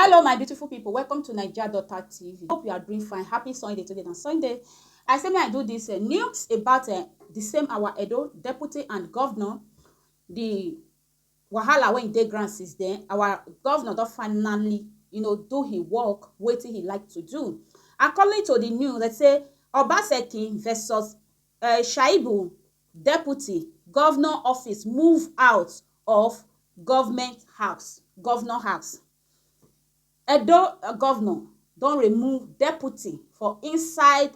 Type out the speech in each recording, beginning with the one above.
Hello my beautiful people, welcome to Naija Daughter TV. Hope you are doing fine. Happy Sunday today na Sunday. I say may I do this uh, news about uh, the same our Edo deputy and governor, the wahala wey dey ground since then. Our governor don finally, you know, do his work wetin he like to do. According to the news, they say Obaseki versus Shaibu deputy govnor office move out of govment house, govnor house. Edo govnor don remove deputy for inside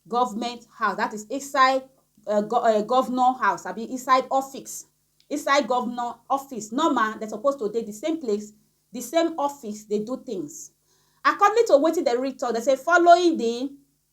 govment house dat is inside govnor house abi inside office, inside govnor office. Normal dem suppose to dey di same place, di same office dey do tins. According to watin dem read tok, dem say following di.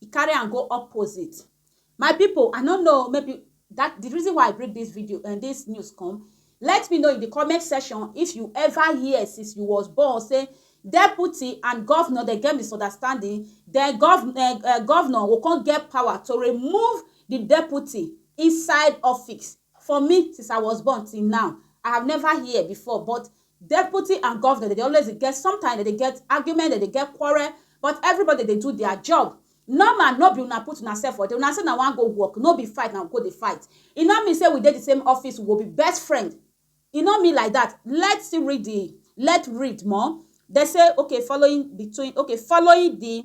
E carry am go opposite. My pipu, I no know maybe that the reason why I bring this video and eh, this news come, let me know in the comment section if you ever hear since you was born say deputy and governor dey get misunderstanding, then governor uh, eh, eh, governor go come get power to remove the deputy inside office. For me since I was born till now I have never hear before but deputy and governor dem dey always dey get sometimes dem dey get argument dem dey get quarrel but everybody dey do their job normal no be una put una self for there una say una wan go work no be fight una go dey fight e no mean say we dey the same office we go be best friend e no mean like that let's still read the let read more dem say okay following between okay following the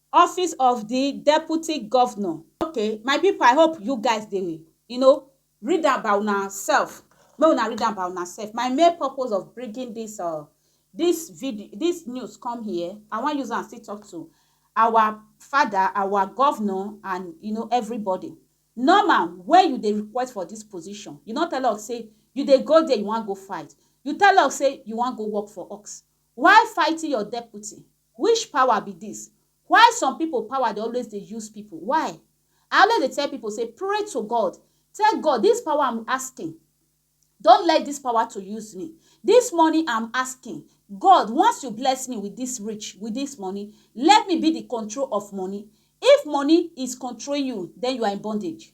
Office of di Deputy Governor. Ok my people I hope you guys dey you know read am by una self make una read am by una self my main purpose of bringing this uh this video this news come here I wan use am still talk to our father our governor and you know everybody normal when you dey request for this position you no tell us say you dey go there you wan go fight you tell us say you wan go work for us why fighting your deputy Which power be this? Why some people power dey always dey use people? Why? I always dey tell people say pray to God, tell God this power I'm asking don't let this power to use me. This money I'm asking, God once you bless me with this rich, with this money, let me be the control of money. If money is controlling you, then you are in bondage.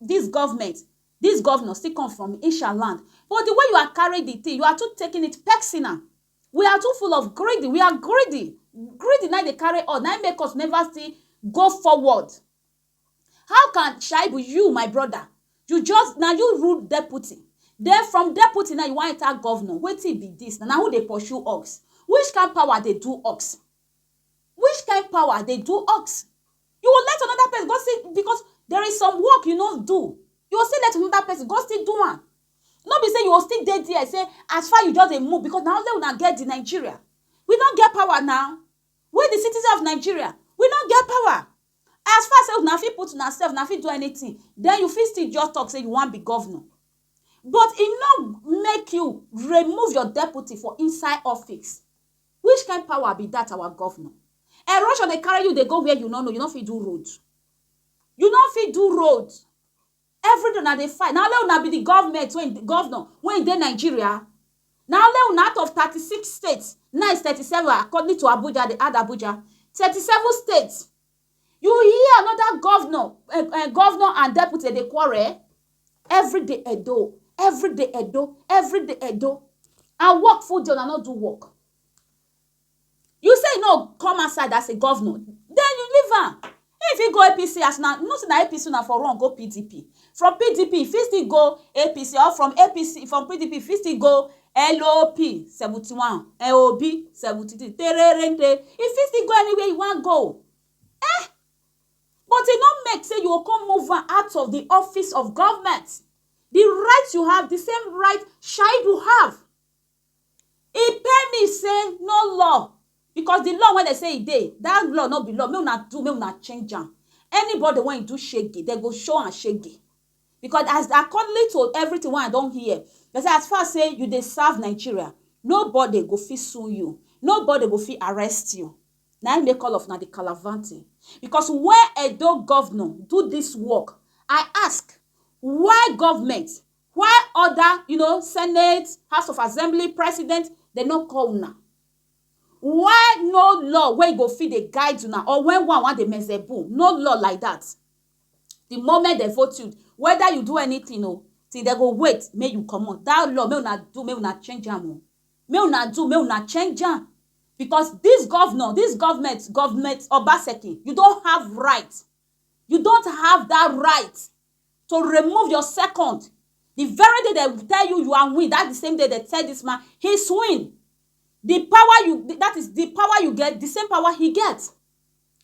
This government, this governor still come from Isha land but the way you are carry the thing you are too taking it personal we are too full of greedy we are greedy greedy na dey carry us na make us never still go forward how can Shaibu you my brother you just na you rule deputy then from deputy now you wan enter governor wetin be this na who dey pursue ox which kind power dey do ox which kind power dey do ox You will let another person go see because there is some work you no do. You will still let another person go still do am. No be say you will still dey there say as far you just dey move because na only una get the Nigeria. We no get power now. We the citizens of Nigeria. We no get power. As far say una fit put una self, una fit do anything. Then you fit still just talk say you wan be governor. But e no make you remove your deputy for inside office. Which kind power be that our governor? Erosion dey carry you dey go where you no know, you no fit do road. You no fit do road. Everyday una dey fight. Na only una be the government wey governor wey dey Nigeria. Na only una out of thirty six states, now is thirty seven according to Abuja, they add Abuja, thirty seven states You hear another governor, eh, eh, governor and deputy dey quarrel every day Edo, every day Edo, every day Edo. And work full day, una no do work. You say you no come outside as a governor, then you leave am. If you go APC as na, you know say na APC una for run go PDP. From PDP, you fit still go APC or from APC, from PDP, you fit still go LOP seventy one LOB seventy three tererente e fit still go anywhere e wan go eh but e no make say you go come move am out of the office of government the right you have the same right Shaibu have e pay me say no law because the law wey dem say e dey that law no be law make una do make una change am anybody wey do shege dem go show am shege. Because as accordingly to everything wey I don hear, dem say as far say you dey serve Nigeria, nobody go fit sue you, nobody go fit arrest you. Na im make all of una dey calavanting. Because when Edo governor do this work, I ask, why government, why other you know, senate, house of assembly, president, dem no call una? Why no law wey go fit dey guide una or when one wan dey mezebo, no law like that. the moment dem vote you whether you do anything o till dem go wait make you comot that law make una do make una change am o make una do make una change am because this governor this government government Obaseki you don't have right you don't have that right to remove your second the very day they tell you you are win that the same day they tell this man he's win the power you that is the power you get the same power he gets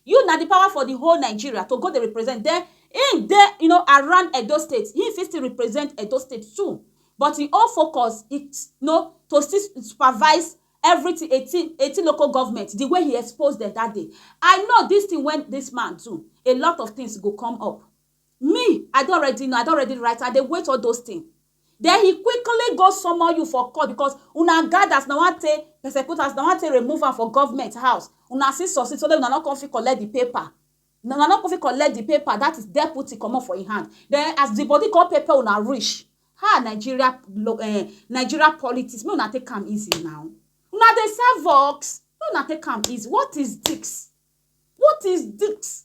You na di power for di whole Nigeria to go dey represent den im dey you know around Edo state im fit still represent Edo state too but im own focus is you know to still supervise everything eighteen eighteen local government di way he expose dem that day I know this thing wey this man do a lot of things go come up me I don already know I don already write I dey wait all those things Den he quickly go summon you for court because una gad as una wan take persecute am, as una wan take remove am for government house, una still succeed sotey una no come fit collect the paper, una no come fit collect the paper that is deputy comot for him hand, den as the body come pepper una reach, ha Nigeria um Nigeria politics make una take am easy na, una dey serve ux make una take am easy what is this, what is this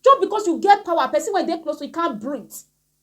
just because you get power person wey dey close to you can't breathe.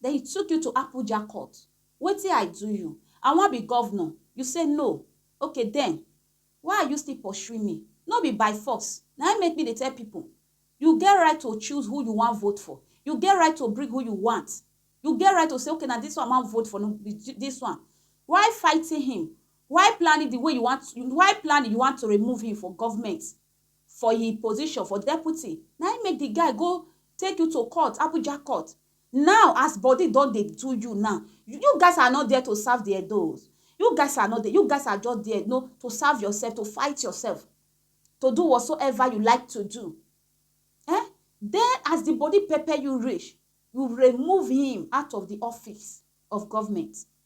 Then he took you to Apuja court, wetin I do you? I wan be governor, you say no, ok then why are you still pursuing me? No be by force, na him make me dey tell people, you get right to choose who you wan vote for, you get right to bring who you want, you get right to say ok na this one I wan vote for, no be this one, why fighting him, why planning the way you want, why planning you want to remove him for government, for he position for deputy na him make the guy go take you to court Abuja court now as body don dey do you now you guys are not there to serve the Edos you guys are not there you guys are just there no to serve yourself to fight yourself to do whatsoever you like to do eh then as the body pepper you reach you remove him out of the office of government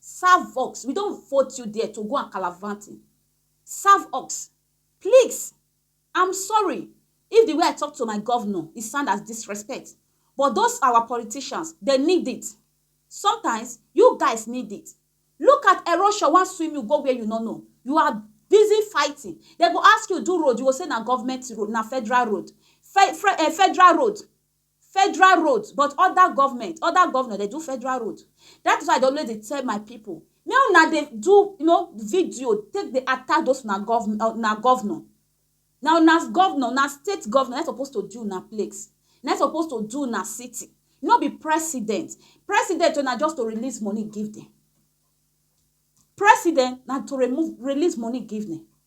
Serve ox we don vote you there to go and calavanting serve ox please I'm sorry if the way I talk to my governor e sound as disrespect but those our politicians they need it sometimes you guys need it look at erosion wan swim you go where you no know you are busy fighting they go ask you do road you go say na government road na federal road fe fe eh, federal road Federal road but other government, other governor dey do federal road. That is why I dey always dey tell my people make una dey do you know video take dey attack those una governor, una governor. Na una governor, na state governor na im suppose to do una place, na im suppose to do una city, no be president. President own na just to release money give dem. President na to remove, release money give dem.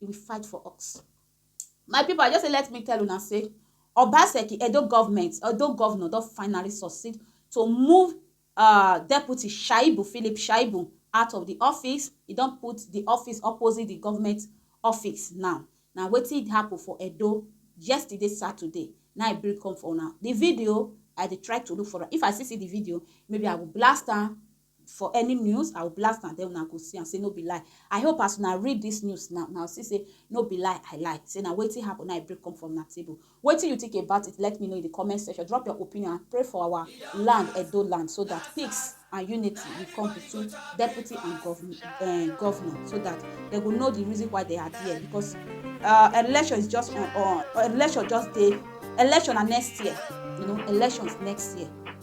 he will fight for us. My people, I just say let me tell una say Obaseki Edo government, Edo governor don finally succeed to move uh, deputy Shaibu, Philip Shaibu, out of the office. He don put the office opposite the government office now. Na wetin happen for Edo yesterday, Saturday. Now I bring come for una. The video, I dey try to look for am. If I still see the video, maybe I will blast am for any news i will blast am then una go see am say no be lie i hope as una read this news now una see say no be lie i lie say na wetin happen na i break come from na table wetin you think about it let me know in the comment section drop your opinion and pray for our land edo land so that peace and unity will come between deputy and governor uh, governor so that they go know the reason why they are there because uh, election is just on, on election just day election na next year you know elections next year